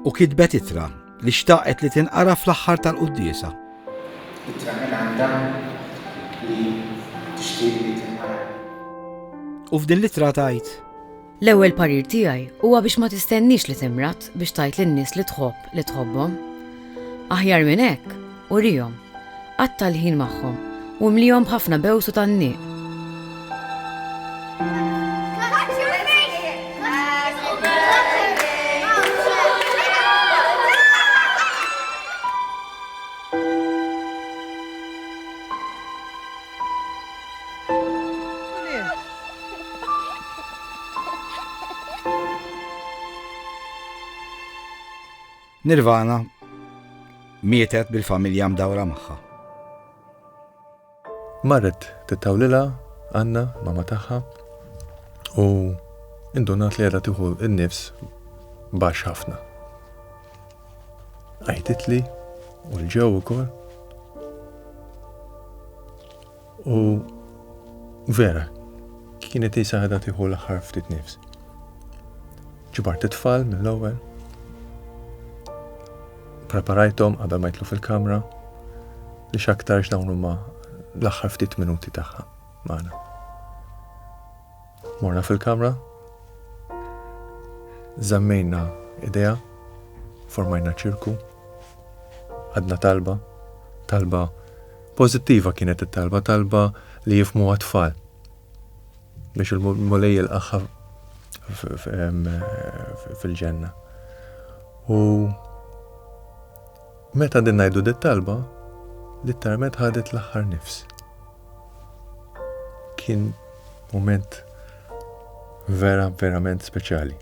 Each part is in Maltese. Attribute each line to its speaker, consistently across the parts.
Speaker 1: U kitbet ittra li xtaqet li tinqara fl-aħħar tal-quddiesa. Ittra minn għandha li tixtieq li tinqara. U f'din l-ittra tgħid. L-ewwel parir tiegħi huwa biex ma tistenniex li timrad biex tgħid lin-nies li tħobb li tħobbhom. Aħjar minn hekk, Urihom, qatta' l-ħin magħhom u imlihom b'ħafna bews u tgħanniq. Nirvana mietet bil-familja mdawra magħha. Marret tittawlilha Anna, mama tagħha, u indunat li qiegħda tieħu n-nifs baxx ħafna. Għajtitli u l-ġew ukoll. U vera, kienet isa ħadha tieħu l-aħħar ftit nifs. Ġibart it-tfal mill-ewwel. Preparajthom qabel ma jitlu fil-kamra li x'aktarx dawn huma l-aħħar ftit minuti tagħha magħna. Morna fil-kamra, zammejna idea, formajna ċirku, għadna talba, talba pozittiva kienet it-talba, talba li jifmu għatfall biex il-mulej il fil-ġenna. U Meta qegħdin ngħidu dit-talba, lit-tarmet ħadet l-aħħar nifs. Kien mument vera verament speċjali.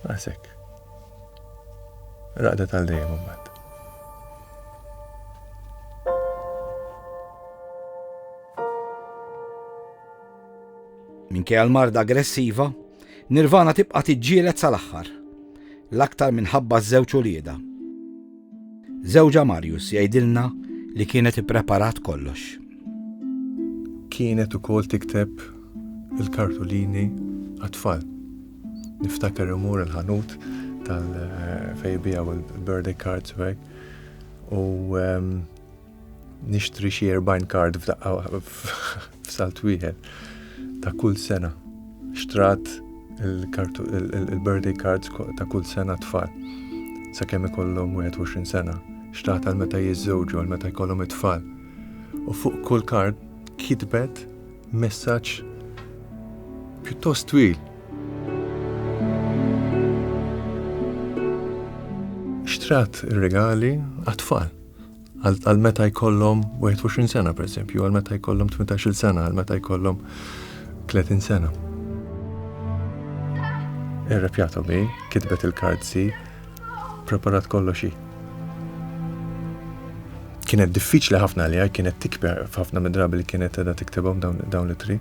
Speaker 1: Għasek. Raqdet għal dejjem mbagħad. Minkejja l-marda aggressiva, Nirvana tibqa' tiġġieled sal-aħħar, l-aktar minħabba ż-żewġ uliedha. Żewġha Marius jgħidilna li kienet ippreparat kollox. Kienet ukoll tikteb il-kartulini għat-tfal. Niftakar imur il-ħanut tal-fejbija u l-birthday cards u ehm, Nixtri xi 40 kard f'daqqa f'salt wieħed ta' kull sena. Xtrat il-birthday cards ta' kull sena tfal. Sakemm ikollhom 21 sena. Xtrat għal meta jiżżewġu, għal meta jkollhom it-tfal. U fuq kull kard kitbet messaġġ pjuttost twil. Xtrat ir-regali għat-tfal. Għal meta jkollhom 21 sena, per esempio, għal meta jkollhom 18 sena, għal meta jkollhom 30 sena. Irrepjatu mi, kitbet il-kardzi, preparat kolloxi. Kienet diffiċli ħafna li għaj, kienet tikber ħafna midrabi li kienet edha tiktebom dawn li tri.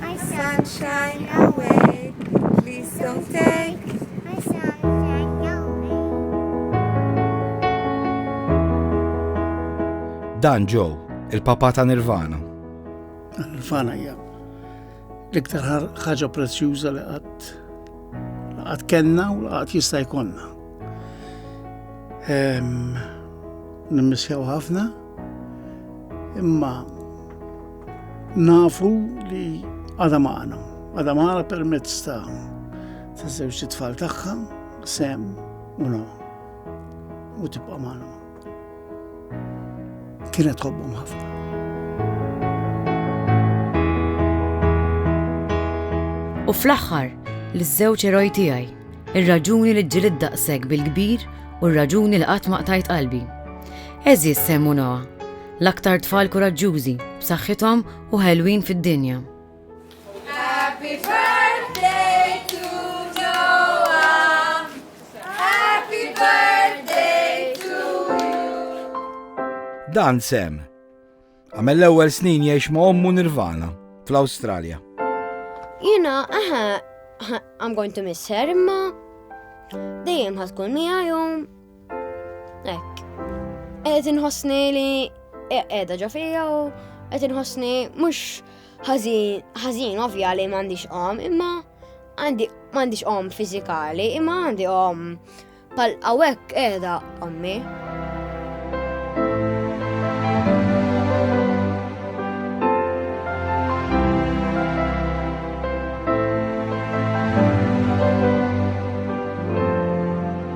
Speaker 1: My sunshine away, please don't take my sunshine away. Dan Joe, il-papa ta' Nirvana. Nirvana hija l-iktar ħaġa prezzjuża li qatt qatt kellna u qatt jista' jkollna. Ehm, Nimmissjaw ħafna, imma Nafu li għadha magħna, għadha magħna permezz ta' ta' żewġ tfal tagħha, sem u no. U tibqa' magħna. Kienet tħobbhom ħafna. U fl-aħħar, l-żewġ eroj tiegħi, ir-raġuni li ġġilid daqshekk bil-kbir u r-raġuni li qatt ma qtajt qalbi. Eżis semmu Noah, L-aktar tfal kuraġġużi, b'saħħithom u ħelwin fid-dinja. Happy birthday to Noah. Happy birthday to you. Dan sem. Għamel l-ewwel snin jgħix ma' ommu Nirvana fl-Awstralja. Jina, aha, I'm going to miss her, imma dejjem ħatkun miegħi Ek. Qed inħossni li qiegħda ġo fija u qed inħossni mhux ħażin ovvja li m'għandix qom, imma għandi m'għandix qom fiżikali, imma għandi qom pal hawnhekk qiegħda ommi.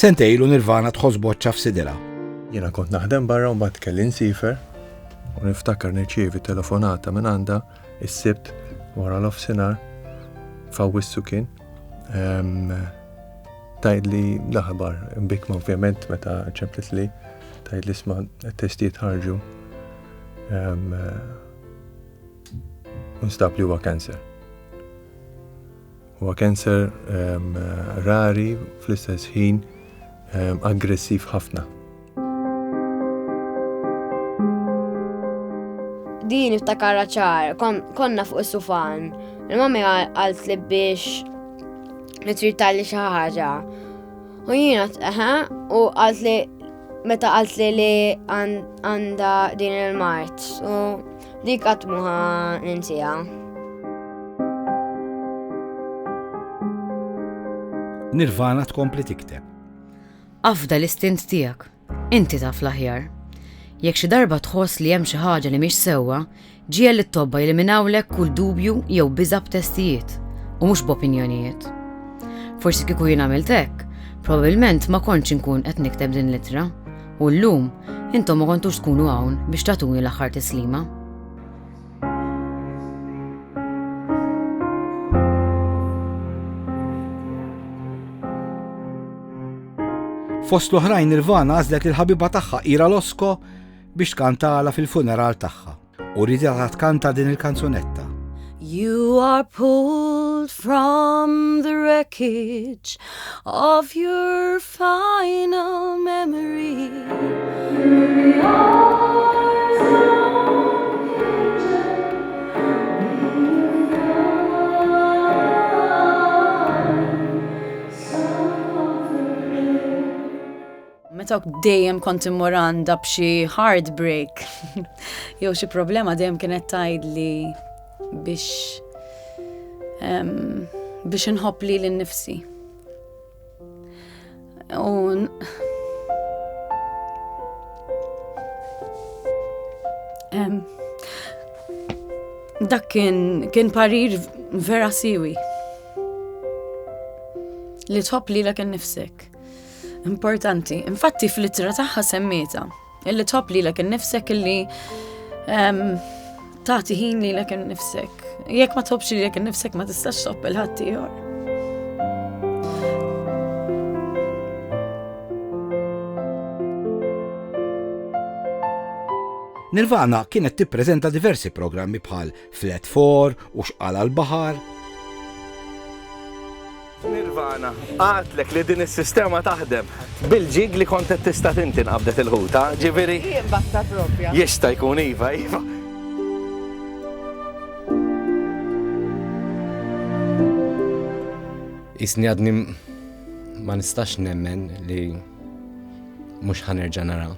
Speaker 1: Sentej lu Nirvana tħoss boċċa f'sidilha. Jiena kont naħdem barra u mbagħad kelli nsifer u niftakar nirċievi telefonata minn għandha is-sibt wara l-ofsinar fawissu kien tajd li l-aħbar bikma ovvjament meta ċemplet li tajd li sma testijiet ħarġu u nstab li huwa cancer. Huwa cancer um, rari fl-istess ħin um, aggressiv ħafna. Din iftakara ċar, kon, konna fuq is-sufan. Il-mamma għalt li biex nitritali xi ħaġa. U jiena eħe u għalt li meta għalt li li għanda din il-mart u dik għatmuħa ninsija. Nirvana tkompli tikteb. Afda l-istint tijak. Inti taf l-aħjar. Jekk xi darba tħoss li hemm xi ħaġa li mhix sewwa, ġiegħel lit-tobba jeliminawlek kull dubju jew biża' b'testijiet, u mhux b'opinjonijiet. Forsi kieku jien għamilt hekk, probabbilment ma kontx inkun qed nikteb din l-ittra, u llum intom ma kontux tkunu hawn biex tagħtuni l-aħħar tislima. Fost l-oħrajn Nirvana għażlet lil ħabiba tagħha Ira Losko biex tkantala fil-funeral tagħha u ridha tkanta din il-kanzunetta. You are pulled from the wreckage of your Final memory. Meta dejjem kont immur għandha b'xi heartbreak jew xi problema dejjem kienet tgħidli biex biex inħobb li l-nifsi. Un... Um, dak kien, kien parir vera siwi li tħobb li l nifsek. Importanti, infatti fl-ittra taħħa semmita Illi tħobb lilek innifsek illi tagħti ħin lilek innifsek. Jekk ma tħobbx lilek innifsek ma tistax tħobb il-ħadd ieħor. Nirvana kienet tippreżenta diversi programmi bħal Flat Four u Xqala l-Baħar. Nirvana, għatlek li din is-sistema taħdem bil-ġig li kont qed tista' tinti nqabdet il-ħuta, ġifieri. Jimbatta propja. Jista' jkun iva, iva. Isni għadni ma nistax nemmen li mhux ħanerġa' nara.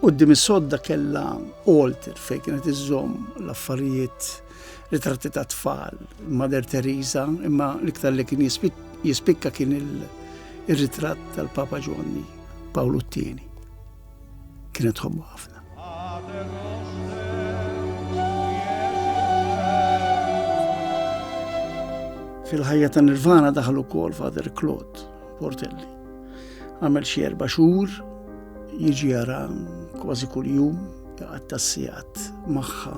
Speaker 1: Quddiem is-sodda kellha altar fejn kienet iżżomm l-affarijiet ritratti ta' tfal, Mother Teresa, imma l-iktar li kien jispikka kien il-ritratt tal-Papa Ġwanni Pawlu t-tieni. Kienet ħobbu ħafna. Fil-ħajja ta' Nirvana daħlu kol Father Claude Portelli. Għamel xi erba' xhur jiġi jara kważi kuljum jaqgħad tas-sigħat magħha.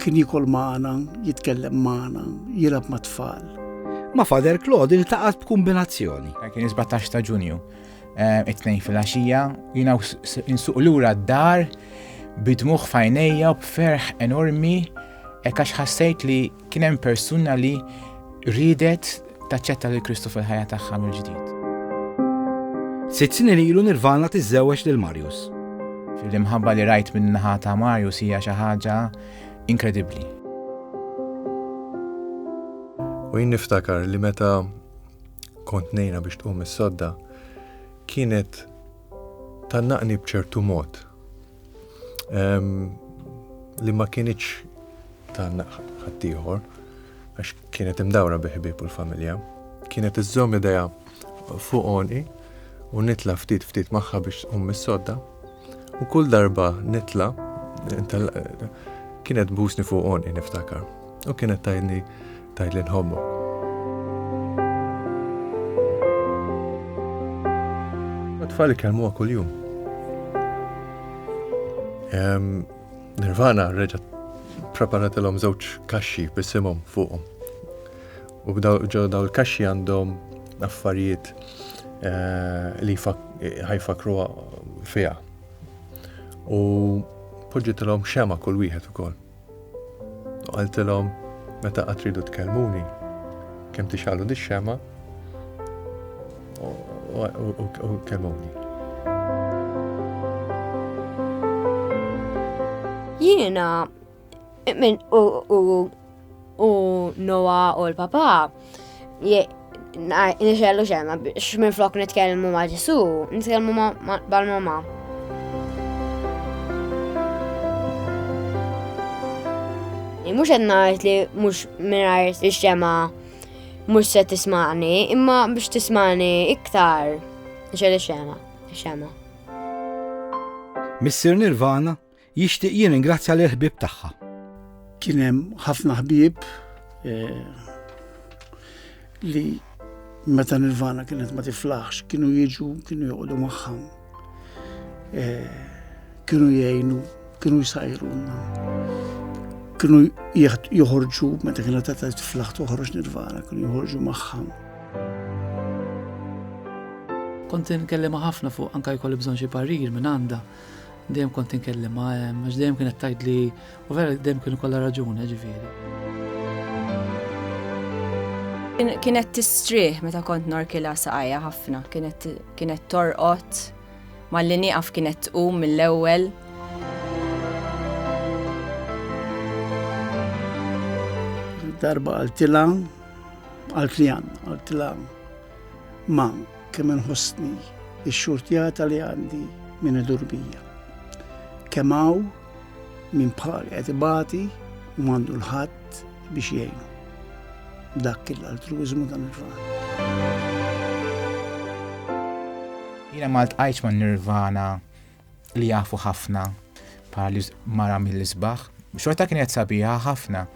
Speaker 1: Kien jikol magħna, jitkellem magħna, jilab ma' tfal. Ma' Father Claude iltaqat b'kumbinazzjoni. Kien 17 ta' Ġunju, eh, it-tnejn fil-għaxija, jiena insuq lura d-dar bidmuħ fajnejja u b'ferħ enormi, ekkax ħassejt li Kien hemm persuna li riedet taċċetta lil Kristu fil-ħajja tagħha mill-ġdid. Sitt snin ilu Nirvana tiżżewweġ lil Marius. L-imħabba li rajt minn naħa ta' Marius hija xi ħaġa inkredibbli. U jien niftakar li meta kont nejna biex tqum is-sodda kienet tannaqni bċertu mod li ma kienieċ ta' ħaddieħor għax kienet imdawra biħbib u l-familja. Kienet iżżomm ideja fuq onqi u nitla ftit ftit magħha biex um mis-sodda u kull darba nitla kienet busni fuq onqi niftakar u kienet tajni tgħid li nħommok. Tfal ikellmuha kuljum. Nirvana reġa' preparatilhom żewġ kaxxi bisimhom fuqhom. U b'daw il-kaxxi għandhom affarijiet eh, li ħajfakru fiha. U poġġitilhom xema kull wieħed ukoll. U qaltilhom, meta qatt tridu tkellmuni, kemm tixalu dix-xema u kellmuni. Jiena u Noa u l-papa Nixellu xemma biex minn flok nitkellmu ma' Ġesu, nitkellmu ma' bal-mama. Mux għedna li mux minnajr il-xema mux se tismani, imma biex tismani iktar nixellu xema. Missir Nirvana Jixtieq jirringrazzja lil ħbieb tagħha. Kien hemm ħafna ħbieb eh, li meta Nirvana kienet ma tiflaħx, kienu jiġu, kienu joqogħdu magħha. Eh, kienu jgħinu, kienu jsajru. Kienu joħorġu, meta kienu ta' tiflaħ toħroġ nirvana, kienu joħorġu maħħam. Kont nkellem ħafna fuq anka jkolli bżonn xi parir minn għandha. Dejjem kont inkellimha hemm, għax dejjem kienet tgħidli u vera dejjem kien ikollha raġuni ġifieri. Kienet tistrieħ meta kont norkilha saqajja ħafna, kienet torqod, malli nieqaf kienet tqum mill-ewwel. Darba għaltilha għaltlijan, għaltilha ma' Kemm inħossni x-xurtjata li għandi minn idur bija. Kemm hawn minn bħali qed ibati u m'għandu l-ħadd biex jgħinu. Dak l-altruiżmu dan il-fatt. Jiena ma ltqajtx ma' nirvana li jafu ħafna bħal mara mill-isbaħ. Xorta kienet sabiħa ħafna.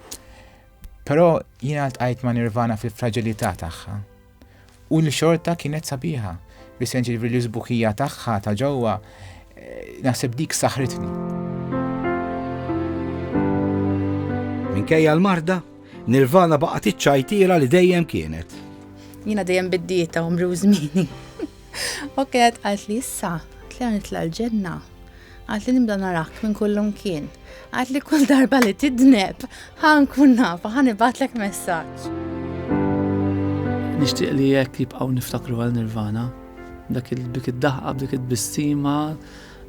Speaker 1: Però jiena ltqajt ma' nirvana fil-fragilità tagħha. U l-xorta kienet sabiħa, bis-sens ġifieri l-isbuħija tagħha ta' ġewwa naħseb dik saħritni. Minkejja l-marda, Nirvana baqgħet iċċajtiela li dejjem kienet. Jiena dejjem biddieta u mriw żmieni. U kienet qalt li issa, qalt li nitla l-ġenna, qalt li nibda narak minn kullum kien, qalt li kull darba li tidneb, ħan kun nafa, ħan ibatlek messaġġ. Nixtieq li jekk jibqgħu niftakru għal Nirvana, dak il-bik id-daħqa, b'dik id-bissima,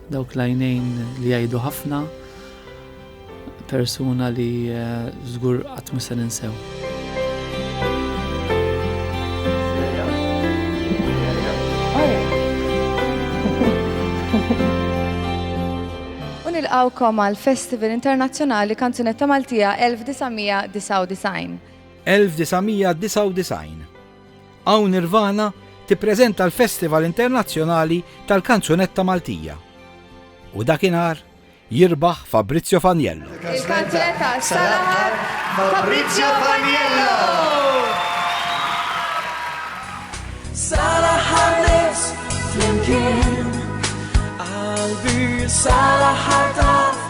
Speaker 1: Dawk l-għajnejn li jgħidu ħafna, persuna li eh, żgur qatt mista ninsew. Unilqawkom għal Festival Internazzjonali Kanzunetta Maltija 1999. 1999 Hawn Nirvana tippreżenta l-Festival Internazzjonali tal-Kanzunetta Maltija u dakinhar jirbaħ Fabrizio Faniello. Il-kanzunetta sal-aħħar Fabrizio Faniello! Sal-aħħar nies flimkien qalbi sal-aħħar taf